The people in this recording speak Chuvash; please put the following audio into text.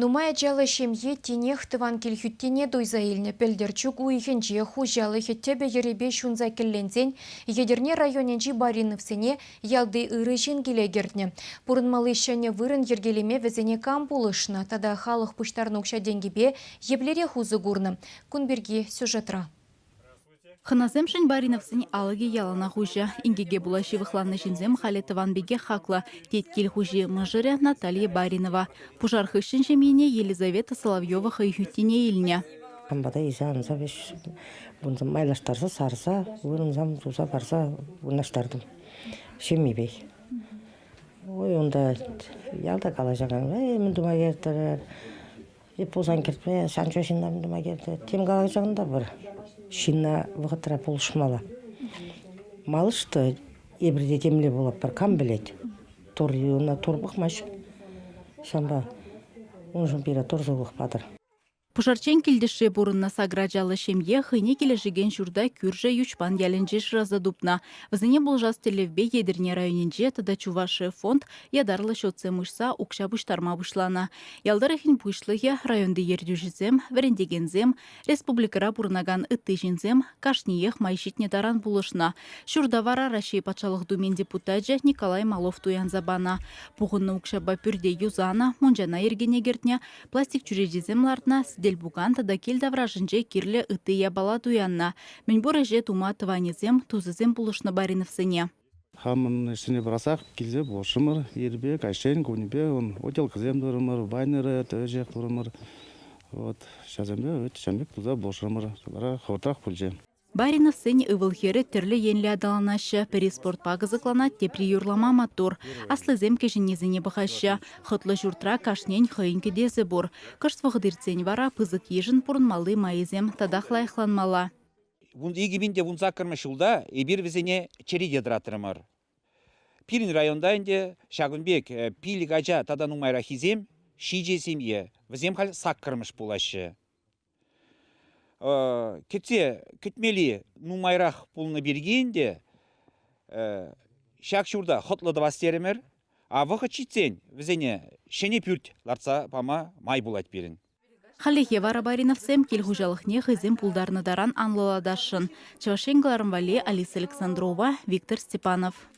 Нумай ачаллӑ ҫемье тинех тӑван кил хӳттине туйса илнӗ. Пӗлтӗр чӳк уйӑхӗнче хуҫалӑхӗ тӗпӗ-йӗрӗпе ҫунса кӗлленсен Етӗрне районӗнчи Бариновсене ялти ырӑ ҫын киле кӗртнӗ. Пурӑнмалли ҫӗнӗ вырӑн йӗркелеме вӗсене кам пулӑшнӑ тата халӑх пуҫтарнӑ укҫа-тенкӗпе еплерех усӑ курнӑ? Кун пирки сюжетра. Хӑнасемшӗн Бариновсен алӑкӗ яланах уҫӑ. Инкеке пула ҫывӑхланнӑ ҫынсем халӗ тӑван пекех хаклӑ, тет кил хуҫи мӑшӑрӗ Наталья Баринова. Пушар хыҫҫӑн ҫемйине Елизавета Соловьева хӑй хӳттине илнӗ. Кам пата илсе анса вӗҫ майлаштарса сарса вырӑнсам туса парса вырнаҫтартӑм ҫемйипех. Ой, унта ялта калаҫакан мӗн тума кертӗр, Эп пулсан кӗртме, сан чух ҫынна тума килтӗ. Тем калас чухӑнта пыр. Ҫынна вӑхӑтра пулӑшмалла. Малышты эпир те темле пулӑпӑр, кам пӗлет. Тур юна тур пӑхмасть. Ҫавӑнпа уншӑн пире тур сывлӑх патӑр. Пушарчен килтӗшре пурӑннӑ сакӑр ачаллӑ ҫемье хӑйне килӗшекен ҫурта кӳршӗ Йӳҫпан ялӗнче шыраса тупнӑ. Вӗсене пулӑшас тӗллевпе Етӗрне районӗнче тата Чувашия фонд ятарлӑ счетсем уҫса укҫа пуҫтарма пуҫланӑ. Ял тӑрӑхӗн пуҫлӑхӗ, районти ертӳҫӗсем, вӗрентекенсем, республикӑра пурӑнакан ытти ҫынсем кашниех май ҫитнӗ таран пулӑшнӑ. Ҫуртавара Раҫҫей Патшалӑх Думин депутачӗ Николай Малов туянса панӑ. Пухӑннӑ укҫапа пӳрте юсанӑ, мунчана йӗркене кӗртнӗ, пластик чӳречисем лартнӑ, сӗтел-пукан тата кил таврашӗнче кирлӗ ытти япала туяннӑ. Мӗнпур ӗҫе тума тӑванӗсем, тусӗсем пулӑшнӑ Бариновсене. Хамӑн ӗҫсене пӑрахсах килсе пурӑнрӑмӑр. Ирпе, каҫчен, кунӗпе ун утелкӑсем турӑмӑр, байнеры, тӗвӗҫех турӑмӑр. Вот ҫасемпе вӗт ҫын пек туса пурӑшрӑмӑр. Кӑларах хӑвӑртрах пулчӗ. Бариновсен ывӑл-хӗрӗ тӗрлӗ енлӗ аталанаҫҫӗ, пӗри спортпа кӑсӑкланать, тепри юрлама маттур. Аслисем кӗҫӗннисене пӑхаҫҫӗ. Хӑтлӑ ҫуртра кашнин хӑйӗн кӗтесӗ пур. Кӑшт вӑхӑт иртсен вара пысӑк йышӑн пурӑнмалли майӗсем татах лайӑхланмалла. икӗ пин те вунсаккӑрмӗш ҫулта эпир вӗсене черете тӑратрӑмӑр. Пирӗн районта ӗнтӗ ҫакӑн пек э, пилӗк ача тата нумайраххисем ҫичӗ семье. Вӗсем халь саккӑрмӗш пулаҫҫӗ. Э, кӗтсе кӗтмели нумайрах пулнӑ пирки ӗнтӗ э, ҫак ҫурта хӑтлӑ тӑвас терӗмӗр. А вӑхӑт ҫитсен вӗсене ҫӗнӗ пӳрт лартса пама май пулать пирӗн. Хальлӗхе вара Бариновсем кил хуҫалӑхне хӑйсем пултарнӑ таран анлӑлатасшӑн. Чӑваш Ен кӑларӑм валли Алиса Александрова, Виктор Степанов.